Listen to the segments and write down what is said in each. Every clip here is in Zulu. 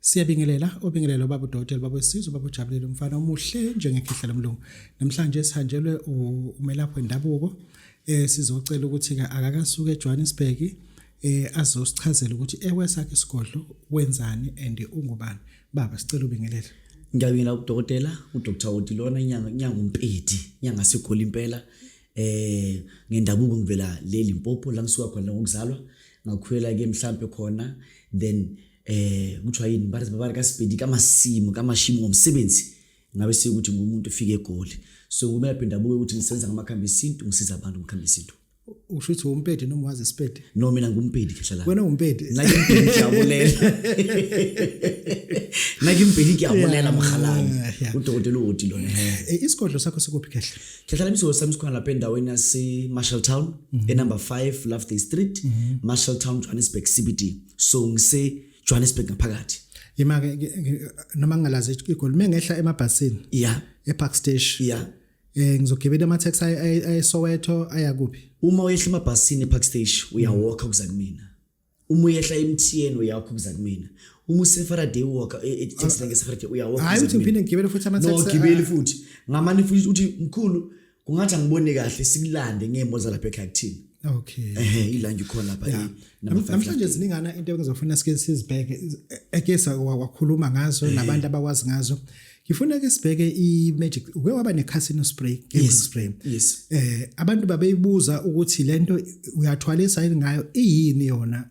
Siyabingelela obingelela ubaba uDokotela baba wesizwe ubaba uJabulile umfana omuhle njengekhehla lomlungu. Namhlanje sihanjelwe umelaphi wendabuko eh sizocela ukuthi ke akakasuke eJohannesburg eh azosichazela ukuthi ewesakhe isigodlo wenzani and ungubani. Baba sicela ubingelela. Ngiyabingelela uDokotela uDr Odilona inyanga inyanga umpedi inyanga sigoli impela eh ngendabuko ngivela leli Mpopo la ngisuka khona ngokuzalwa ngakhwela ke mhlambe khona then eh kuthiwa yini bathi babari kasipedi kamasimu kamashimu ngomsebenzi ngabe sikuthi ngumuntu ufike egoli so kumele aphinda abuke ukuthi ngisenza ngamakhambi esintu ngisiza abantu ngikhambi esintu usho ukuthi umpedi noma wazi isipedi no mina ngumpedi khehla la wena umpedi nake impedi ngiyabulela nake impedi ngiyabulela mhalani udokotela uwoti lona eh, isigodlo sakho sikuphi khehla khehla la misigodlo sami sikhona lapha endaweni yase Marshall Town mhm. e number 5 Loveday Street mhm. Marshall Town Johannesburg CBD so ngise Johannesburg ngaphakathi yima ke noma ngingalazi igoli mengehla emabhasini yeah epark station yeah eh ngizogibela ama taxi ay Soweto aya kuphi uma uyehla emabhasini epark station uyawalk ukuza kumina uma uyehla emthiyeni uyawalk ukuza kumina uma usefaraday walk e, e, taxi ah, ngeke sefaraday uyawalk hayi uthi ngiphinde ngigibele futhi ama taxi no gibele ah. futhi ngamani futhi uthi mkhulu kungathi angiboni kahle sikulande ngemo zalapha ekhaya kuthini okay ehe ilange khona lapha yeah. namhlanje ziningana into engizofuna sike sizibheke ekesa wakhuluma ngazo nabantu abakwazi ngazo ngifuna ke sibheke i-magic uke waba ne-casino spray gamble yes. spray yes. eh abantu babeyibuza ukuthi lento uyathwalisa yini ngayo iyini yona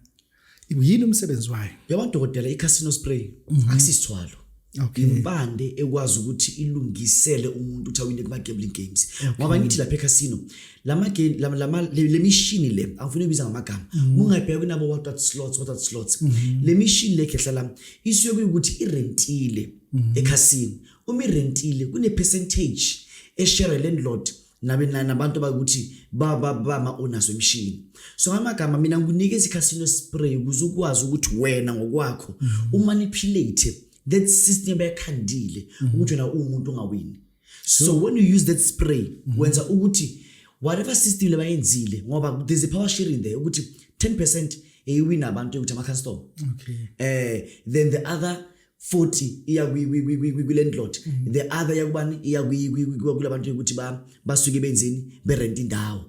yini umsebenzi wayo yabona dokotela i-casino spray mhm. akusisithwalo okay. impande ekwazi ukuthi ilungisele umuntu ukuthi awine kuma-gambling games ngoba okay. ngithi lapha ecasino le mishini le angifuna ibiza ngamagama mhm. ungayibheka kunabo watat slots watat slots mhm. le mishini le khehla lami isuke kuyukuthi irentile mhm. ecasino uma irentile kune-percentage eshere landlord nabe nabantu bakuthi babama onazo imishini so amagama mina ngikunikeza i-casino spray ukuze ukwazi ukuthi wena ngokwakho mm -hmm. umanipulate that system yakhandile mm -hmm. ukuthi wena uwumuntu ongawini so, so when you use that spray mm -hmm. wenza ukuthi whatever system lebayenzile ngoba there's a power sharing there ukuthi 10% eyiwina abantu ukuthi ama-custom okay. eh then the other futhi iya kule ndlot mm-hmm. the other yakubani iya kula bantu ukuthi basuke benzeni berent indawo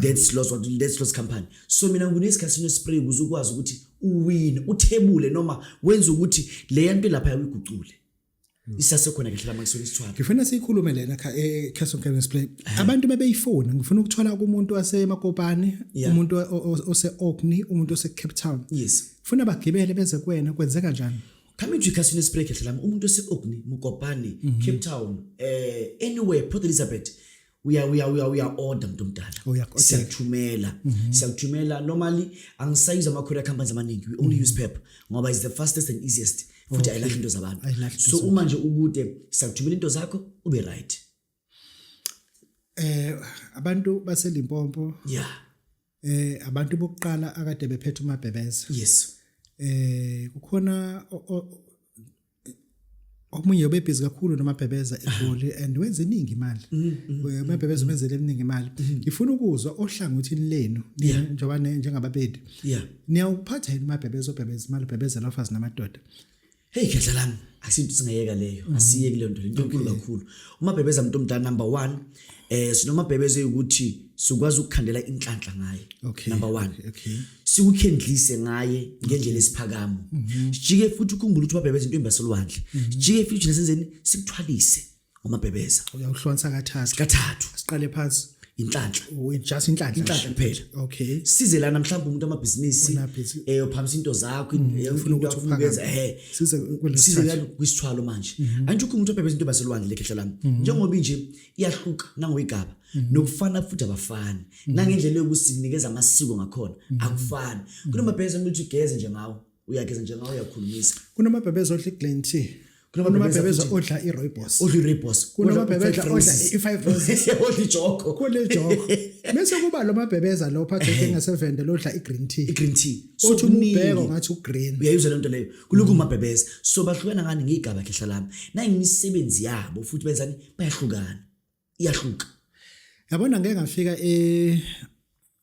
that's loss what that's loss company so mina nginesikhathi nespray ukuze ukwazi ukuthi uwine uthebule noma wenza ukuthi le yanto lapha yakuyigucule mm. isasekhona kahle lama isona isithwala ngifuna siyikhulume lena kha e Castle Games Play eh. abantu bebeyifona ngifuna ukuthola kumuntu wasemakopane umuntu ose Orkney umuntu ose Cape Town yes funa bagibele beze kuwena kwenzeka njani coming to ikhasini esibreak ehle lami umuntu ose-ogni mukopani mm -hmm. cape town uh, anywhere port elizabeth uya uya uya uya order mntu omdala oh, siyakuthumela mhm. siyakuthumela normally angisayuza ama courier companies amaningi we only mhm. use PEP ngoba is the fastest and easiest futhi ayilahli into zabantu so uma nje ukude siyakuthumela into zakho ube right eh abantu baselimpompo yeah eh abantu bokuqala akade bephethe umabhebeza yes eh kukhona omunye ubebhizi kakhulu nomabhebeza egoli and wenza iningi imali mm, mm, eh, umabhebeza mm. wenzele eminingi imali ngifuna ukuzwa ohlangothini lenu njengoba njengababedi niyawuphatha yini umabhebeza obhebeza imali ubhebezela ofazi namadoda Hey khehla lami asinto singayeka leyo mm. asiye kuleyo nto into enkulu kakhulu uma bhebeza umuntu omdala number 1 eh sinoma bhebeze ukuthi sikwazi ukukhandela inhlanhla ngaye okay. number 1 okay, okay. siwukhendlise ngaye ngendlela esiphakamo mm-hmm. sijike futhi ukhumbule ukuthi babhebeze into embasolwandle mm-hmm. sijike futhi nesenzeni sikuthwalise umabhebeza uyawuhlonsa kathathu kathathu siqale phansi inhlanhla oh, just inhlanhla inhlanhla kuphela okay size lana mhlawumbe umuntu amabhizinisi eh uphamisa into zakho mm, ufuna ukuthi uphakeze eh size size lana kwisithwalo manje mm-hmm. anjukho umuntu obhebeza into baselwandle lekhehla lami mm-hmm. njengoba inje iyahluka nangoyigaba mm-hmm. nokufana futhi abafani nangendlela yokusinikeza amasiko ngakhona akufani kunomabhizinisi ukuthi ugeze nje ngawo uyageza nje ngawo uyakhulumisa kunamabhebeza odla i-glen tea kunamabhebeza odla i-roybos odla i-roybos kunamabhebeza odla i-five roses odla ijoko kodla ijoko bese kuba lo mabhebeza lo phathe engasevende lodla i-green tea i-green tea othi umubheko ngathi ugreen uyayizwa lento leyo kulokhu mabhebeza so bahlukana ngani ngigaba khehla lami nayimisebenzi yabo futhi benzani bayahlukana iyahluka yabona ngeke ngafika e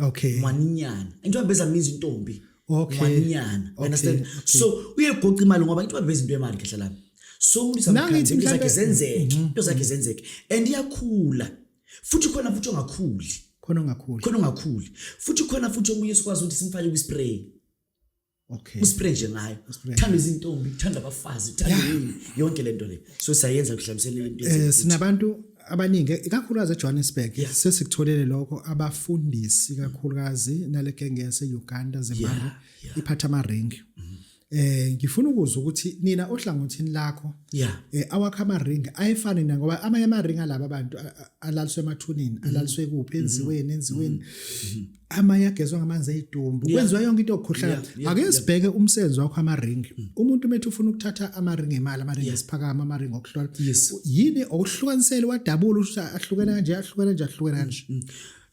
okay mwaninyana into abeza means intombi okay mwaninyana okay. understand okay. so uyegoqa imali ngoba into abeza into yemali kahle lapha so umlisa mkhanzi into zakhe zenzeke mhm. into zakhe zenzeke and iyakhula futhi khona futhi ongakhuli khona ongakhuli khona ongakhuli futhi khona futhi omunye sikwazi ukuthi simfake kwi spray okay uspray nje ngayo thanda izintombi thanda abafazi thanda yini yonke lento le so sayenza kuhlamiselela into eh sinabantu abaningi ikakhulukazi eJohannesburg sesikutholele lokho abafundisi kakhulukazi nale genge yase Uganda zemali iphatha ama ring mm-hmm. eh ngifuna ukuzwa ukuthi nina ohlangothini lakho yeah eh awakha ama ring ayefani na ngoba amanye ama ring alaba abantu alaliswe emathunini mm-hmm. alaliswe kuphi mm-hmm. enziweni enziweni mm-hmm. amanye agezwa ngamanzi eyitumbu yeah. kwenziwa yonke into okukhohlakala yeah, yeah, ake sibheke yeah. umsebenzi wakho amaringi mm. umuntu umethi ufuna ukuthatha amaringi emali amaringi yeah. esiphakama amaringi okuhlola yes. yini okuhlukanisele wadabula ukuthi ahlukene kanje ahlukene kanje ahlukene kanje mm. mm.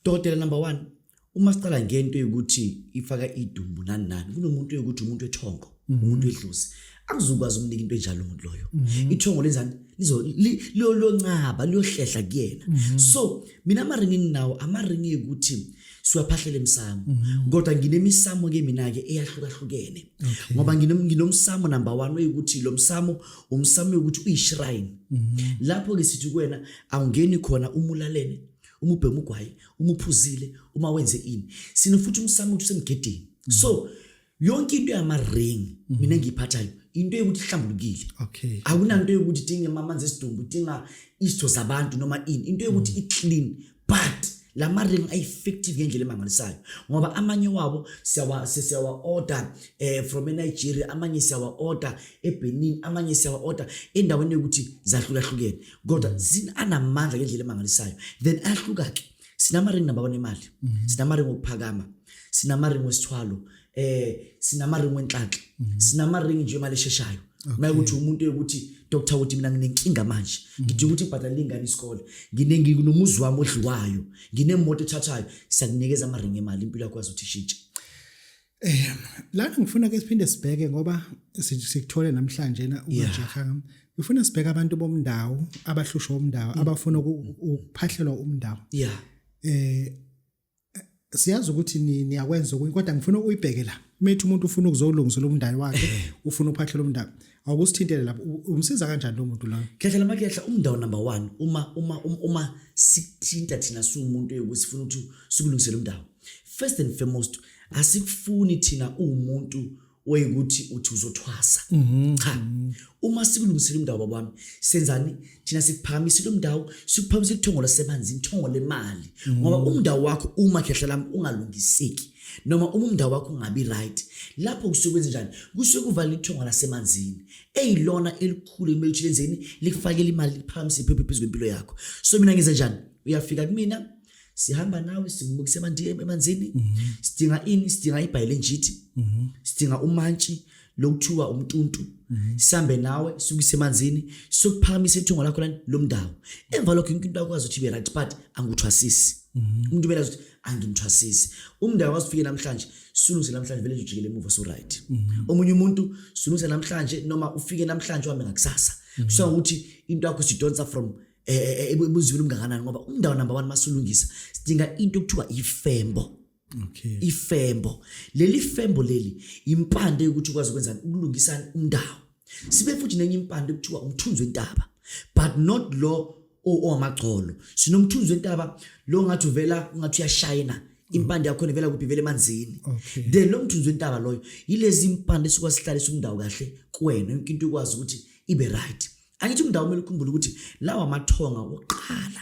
dokotela number 1 uma siqala ngento yokuthi ifaka idumbu nani nani kunomuntu yokuthi umuntu ethongo umuntu edlozi akuzukwazi umnika into enjalo umuntu loyo mhm. ithongo lenzani lizo liyoncaba liyohlehla kuyena mhm. so mina amaringi nginawo amaringi ukuthi siwaphahlela emsamo mhm. kodwa nginemisamo ke mina ke eyahlukahlukene ngoba nginomsamo number 1 oyikuthi lo msamo umsamo ukuthi uyishrine lapho ke sithi kuwena awungeni khona umulalene umubhema ugwayi umuphuzile uma wenze ini sinofuthi umsamo ukuthi usemgedini so mm -hmm. yonke into yama-ring mm. mina ngiyiphathayo into yokuthi ihlambulukile okay. akunanto yokuthi dinga mamanzi esidumbu dinga isitho zabantu noma ini into yokuthi mm. i-clean but la ma-ring a-effective ngendlela emangalisayo ngoba amanye wabo siyawa-order um eh, from enigeria amanye siyawa-order ebenin amanye siyawa-order endaweni yokuthi zahlukahlukene kodwa mm. anamandla ngendlela emangalisayo then ayahluka-ke sinamaringi naba onemali mhm. sinamaringi okuphakama sinamaringi wesithwalo eh sinamaringi wenhlanhla mhm. sinamaringi nje imali esheshayo mayekuthi umuntu ukuthi doctor ukuthi mina nginenkinga manje mhm. ngidinga ukuthi ibhadalele ingane isikole nginengi kunomuzi wami odliwayo nginemoto ethathayo siyakunikeza amaringi emali impilo yakho azothi ishintshe Eh lana ngifuna ke siphinde sibheke ngoba sikuthole namhlanje na ujaha ngifuna sibheke abantu bomndawo abahlushwa umndawo mm. abafuna ukuphahlelwa umndawo yeah eh siyazi ukuthi niyakwenza okunye kodwa ngifuna uyibheke la methi umuntu ufuna ukuzolungisela umndalo wakhe eh. ufuna uphahlelwa umndalo awukusithintele lapho u- umsiza kanjani lo muntu lona khehla lama khehla umndawo number one uma uma uma, uma sithinta thina siwumuntu yokuthi sifuna ukuthi sikulungisele umndawo first and foremost asikufuni thina uwumuntu oyikuthi uthi uzothwasa cha uma sikulungisele umndawo babami senzani thina sikuphakamisile umndawo sikuphakamisile ithongo lasemanzini ithongo lemali ngoba umndawo wakho uma khehla lami ungalungiseki noma uma umndawo wakho ungabi right lapho kusuke kwenze njani kusuke kuvala ithonga lasemanzini eyilona elikhulu ekumele ukuthi lenzeni likufakele imali liphakamise iphephe phezu kwempilo yakho so mina ngenze njani uyafika kumina sihamba nawe simukise emanzini mhm. sidinga ini sidinga ibhayilenjithi mhm. sidinga umantshi lokuthiwa umntuntu mhm. sambe nawe sukise emanzini sokuphakamisa ithungo lakho lani lomndawo emva lokho into akwazi ukuthi be right but anguthwasisi mhm. umuntu bela ukuthi angimthwasisi umndawo wasifike namhlanje sulungise namhlanje vele nje ujikele emuva so right mhm. omunye umuntu sulungise namhlanje noma ufike namhlanje uhambe ngakusasa kusho ukuthi into yakho sidonsa from eh, eh, eh, ebuzweni umngakanani ngoba umndawo number 1 masulungisa sidinga into okuthiwa ifembo okay ifembo leli fembo leli impande ukuthi ukwazi ukwenza ukulungisa indawo sibe futhi nenye impande kuthiwa umthunzi wentaba but not lo owamagcolo sinomthunzi wentaba lo ngathi uvela ungathi uyashayina impande yakho nevela kuphi vele emanzini okay. then lo mthunzi wentaba loyo yilezi impande sikwazi sihlalisa umndawo kahle kuwena yonke into ikwazi ukuthi ibe right angithi umndawo kumele ukhumbule ukuthi lawa amathonga wokuqala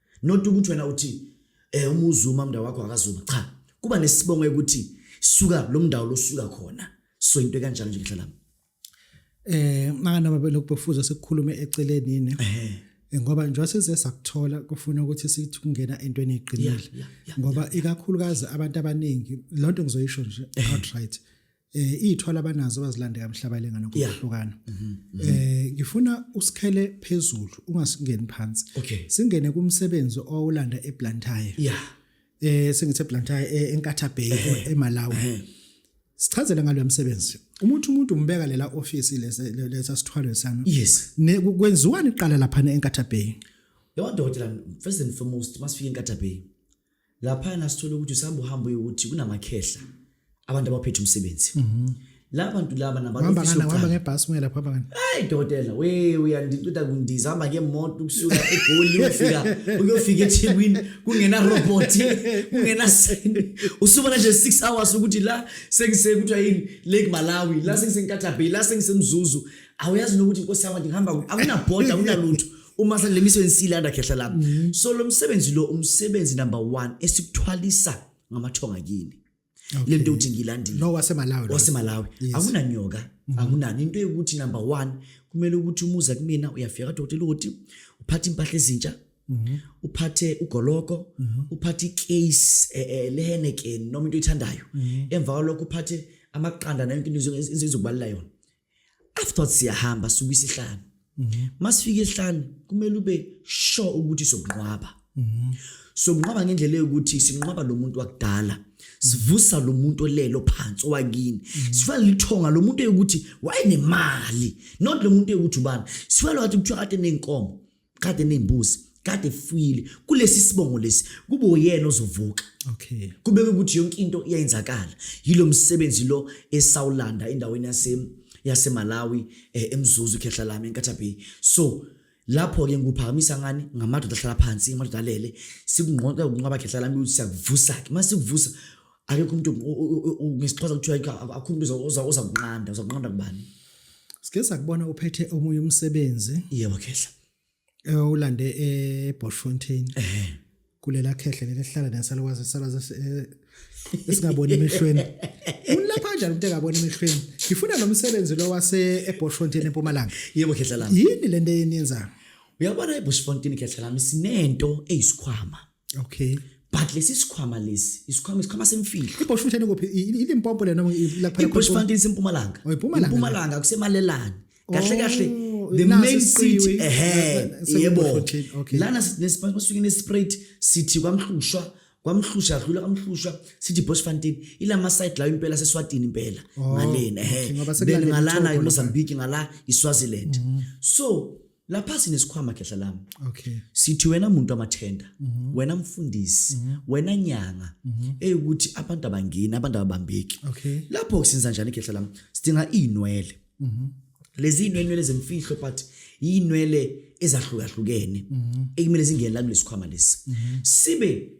not ukuthi wena uthi eh uma uzuma umndawo wakho akazuma cha kuba nesibongo ukuthi suka lo mndawo losuka khona so into kanjalo nje ngihlalami eh makanoma belokubofuza sekukhulume eceleni ne eh ngoba njengoba size sakuthola kufuna ukuthi sithi kungena entweni eqinile ngoba ikakhulukazi abantu abaningi lonto ngizoyisho nje eh. outright eh ithwala abanazo bazilande kamhlaba ilengane ngokuhlukana mhm, mhm. eh ngifuna usikhele phezulu ungasingeni phansi singene kumsebenzi owulanda eBlantyre yeah eh sengithe Blantyre eh, eNkatha Bay eMalawi sichazele ngalo msebenzi umuntu umuntu umbeka lela office lesa lesa sithwalo sami yes ne kwenziwani iqala lapha eNkatha Bay yonke dokotela first and foremost masifika eNkatha Bay laphana sithole ukuthi usihamba uhamba uyokuthi kunamakhehla abantu abaphethe umsebenzi mhm. la bantu laba nabantuhamba ngebhasi uye lapho abangani hayi dokotela we uyandicida kundizihamba ngemoto ukusuka egoli uyofika uyofika ethekwini kungenarobhothi kungenasende usubona nje six hours ukuthi la sengisekuthiwa yini lake malawi la sengisenkatabay la sengisemzuzu awuyazi nokuthi nkosi yama ndingihamba akunabhoda akunalutho uma selemiswe insilanda khehla lami mm -hmm. so lo msebenzi lo umsebenzi number 1 esikuthwalisa ngamathonga kini okay. lento uthi ngilandile no wasemalawi wasemalawi yes. akunanyoka mm -hmm. akunani into yokuthi number 1 kumele ukuthi umuza kumina uyafika dokotela uthi uphatha impahla ezintsha Mhm. uphathe ugoloko mhm. uphathe icase eh, eh, leheneken noma into oyithandayo mhm. emva kwalokho uphathe amaqanda nayo into izokubalela yona after siyahamba suka isihlanu mhm. masifika isihlanu kumele ube sure ukuthi sokunqwaba mhm. sokunqwaba ngendlela yokuthi sinqwaba lo muntu wakudala sivusa lo muntu olelo phansi owakini mhm. sifana lithonga lo muntu eyokuthi wayenemali not lo muntu eyokuthi ubani sifana wathi kuthiwa kade nenkomo kade nembuzi kade fuyile kulesi sibongo lesi kube uyena ozovuka okay kubeke ukuthi yonke into iyayenzakala yilo msebenzi lo esawulanda endaweni yase yaseMalawi eh, emzuzu khehla lami eNkatha Bay so lapho ke ngikuphakamisa ngani ngamadoda ahlala phansi ngamadoda alele sikungqoqa ukunqaba khehla lami ukuthi siyakuvusa ke mase sikuvusa akekho umuntu ngesixhosa kuthiwa akho umuntu oza kunqanda uza kunqanda kubani sike sakubona uphethe omunye umsebenzi yebo khehla eh, ulande eBoschfontein ehe kulela khehle lelihlala nesalwazi salazi eh, esingaboni emehlweni ulapha kanjani umuntu engaboni emehlweni ngifuna lo msebenzi lo wase eBoschfontein empumalanga yebo khehla lami yini lento yeniyenzayo uyabona eBoschfontein khehla lami sinento eyisikhwama okay but lesi sikhwama lesi isikhwama isikhwama semfihlo ibush futhi kuphi ilimpompo lena la phela ibush fund isimpumalanga oh, impumalanga kusemalelani kahle kahle oh, the main city ehe yebo lana nesiphansi basuke nesprayed city kwamhlushwa kwamhlusha adlula kamhlusha sithi Boschfontein ilama side la impela seswatini impela oh, ngalena ehe ngalana eMozambique ngala iSwaziland mm-hmm. so lapha sinesikhwama khehla lami okay sithi wena muntu amathenda mm -hmm. wena mfundisi mm -hmm. wena nyanga mm -hmm. eyukuthi abantu abangeni abantu ababambeki okay lapho sinza njani khehla lami sidinga inwele mm -hmm. lezi inwele zemfihlo but inwele ezahlukahlukene mm -hmm. ekumele zingene la kulesikhwama lesi mm -hmm. sibe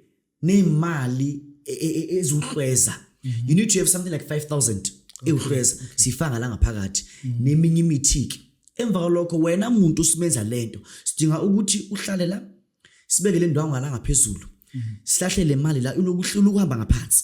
neemali e, e, e, eziwuhlweza mhm. you need to have something like 5000 ewuhlweza siyifaka la ngaphakathi mhm. neminye imithi-ke emva kwalokho wena muntu usimenza le nto sidinga ukuthi uhlale la sibeke le ndwangu ngala ngaphezulu mhm. sihlahle le mali la ulokuhamba ngaphansi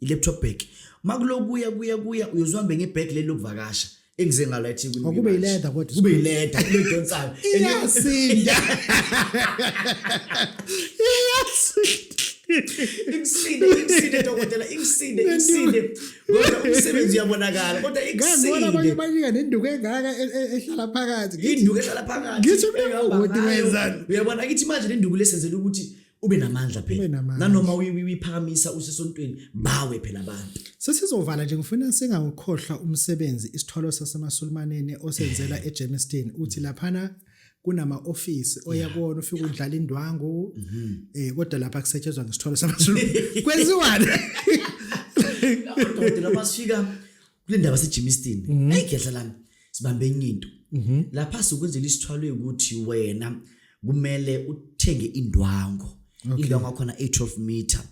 i-laptop bag makulokuya kuya kuya uyozihambe ngebag leli lokuvakasha engize ngalo eThekwini oh, kube yileda kodwa kube yileda kule donsayo iyasinda iyasinda ikusinde ikusinde dokotela ikusinde ikusinde kodwa umsebenzi uyabonakala kodwa ikusinde abanye banika nenduku engaka e, e, ehlala phakathi induku ehlala phakathi ngithi mina uyabona kithi manje nenduku lesenzela ukuthi ube namandla phela nanoma uyiphakamisa usesontweni bawe phela abantu sesizovala nje ngifuna singawukhohlwa umsebenzi isithwalo sasemasulimaneni osenzela eh. eGermiston uthi laphana kunama office oya kuona ufika udlala indwangu mhm. eh kodwa lapha kusetshezwa ngesithwalo samasulu kwenziwani kodwa basifika kule ndaba sejimistin mhm. eyi ngiyadla lami sibambe enye into mhm. lapha sikwenzela isithwalo yokuthi wena kumele uthenge indwango indwango yakhona 812 meter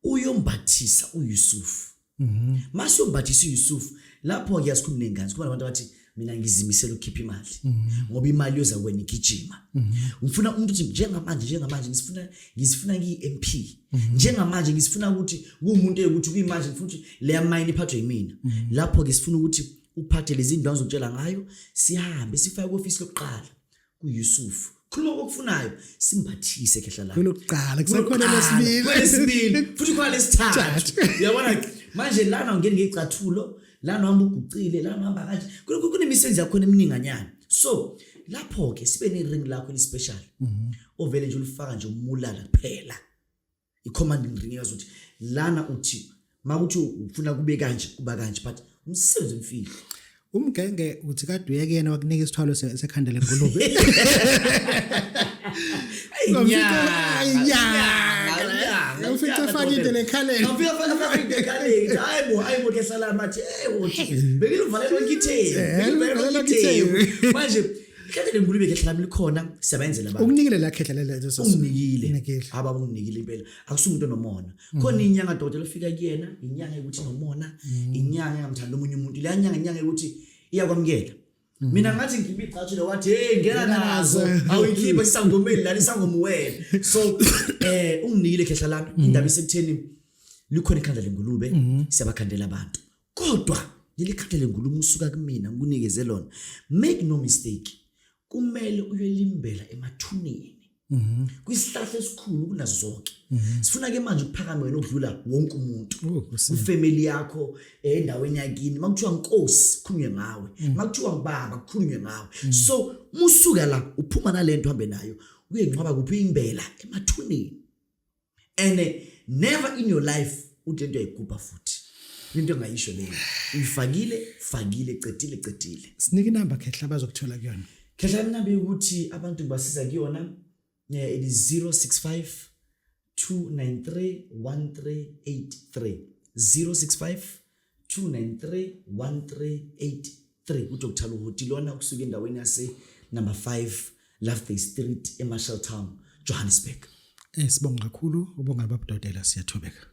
uyombathisa uyusufu mhm. mase uyombathisa uyusufu lapho-ke asikhulumne ngani sikhuluma nabantu abathi mina ngizimisela ukukhipha imali mhm. ngoba imali yoza kwena igijima mhm. ngifuna umuntu ukuthi njengamanje njengamanje ngisifuna ngisifuna ngiyi-mp mhm. njengamanje ngisifuna ukuthi kuwumuntu ukuthi kuyimanje ngifuna ukuthi leya mayini iphathwe yimina lapho-ke sifuna ukuthi uphathe lezi ndwangu zokutshela ngayo sihambe sifake ku-ofisi lokuqala kuYusuf khuluma kokufunayo simbathise khehla lakho kulokuqala kusekhona lesibili lesibili futhi khona lesithathu uyabona manje lana ungena ngecathulo lana uhamba ugucile lana uhamba kanje kunemisebenzi yakho emininganyana so lapho ke sibe ne ring lakho elispecial mhm. ovele nje ulifaka nje umulala kuphela i-commanding ring yazi ukuthi lana uthi makuthi ufuna kube kanje kuba kanje but umsebenzi umfihlo umgenge uthi kade uyekena wakunika isithwalo sekhanda lengulube ngifike afake into lekhaleni ngifike afake into lekhaleni hayi bo hayi bo kesalama athi hey wothi bengilivalela ngithe bengilivalela ngithe manje Mhlawumbe lengulube khehla lami likhona siyabenzela abantu. Ukunikile la khehla lelo leso. Unginikile. Aba unginikile impela. Akusumuntu onomona. Mm. Khona inyanga dokotela ofika kuyena, inyanga ukuthi nomona, mm. inyanga engamthanda omunye umuntu. Le nyanga inyanga ukuthi iyakwamukela. Mm. Mina ngathi ngikhipha igcathu le wathi hey ngena nazo awuyikhipha isangomeni lani sangomu wena. So eh unginikile khehla lami indaba isekutheni likhona ikhanda lengulube mm-hmm. siyabakhandela abantu. kodwa leli khadi lenguluma usuka kumina ngikunikeze lona make no mistake kumele uyolimbela emathuneni mhm. kwisihlahla esikhulu kunazo zonke mhm. sifuna ke manje ukuphakama wena ukudlula wonke umuntu oh, ufamily yakho eh, endaweni yakini makuthiwa nkosi kukhulunywe ngawe mhm. makuthiwa ngibaba kukhulunywe ngawe so musuka la uphuma nalento hambe nayo uye nqaba kuphi imbela emathuneni and eh, never in your life uthi into yayigubha futhi into engayisho leyo uyifakile fakile cedile cedile sinike inamba khehla bazokuthola kuyona khehla inamba yokuthi abantu ngibasiza kuyona eh, it is 065 293 1383 065 293 1383 uDr Luhuti lona kusuka endaweni yase number 5 Loveday Street eMarshall Town Johannesburg. Eh sibonga kakhulu ubonga babudodela siyathobeka.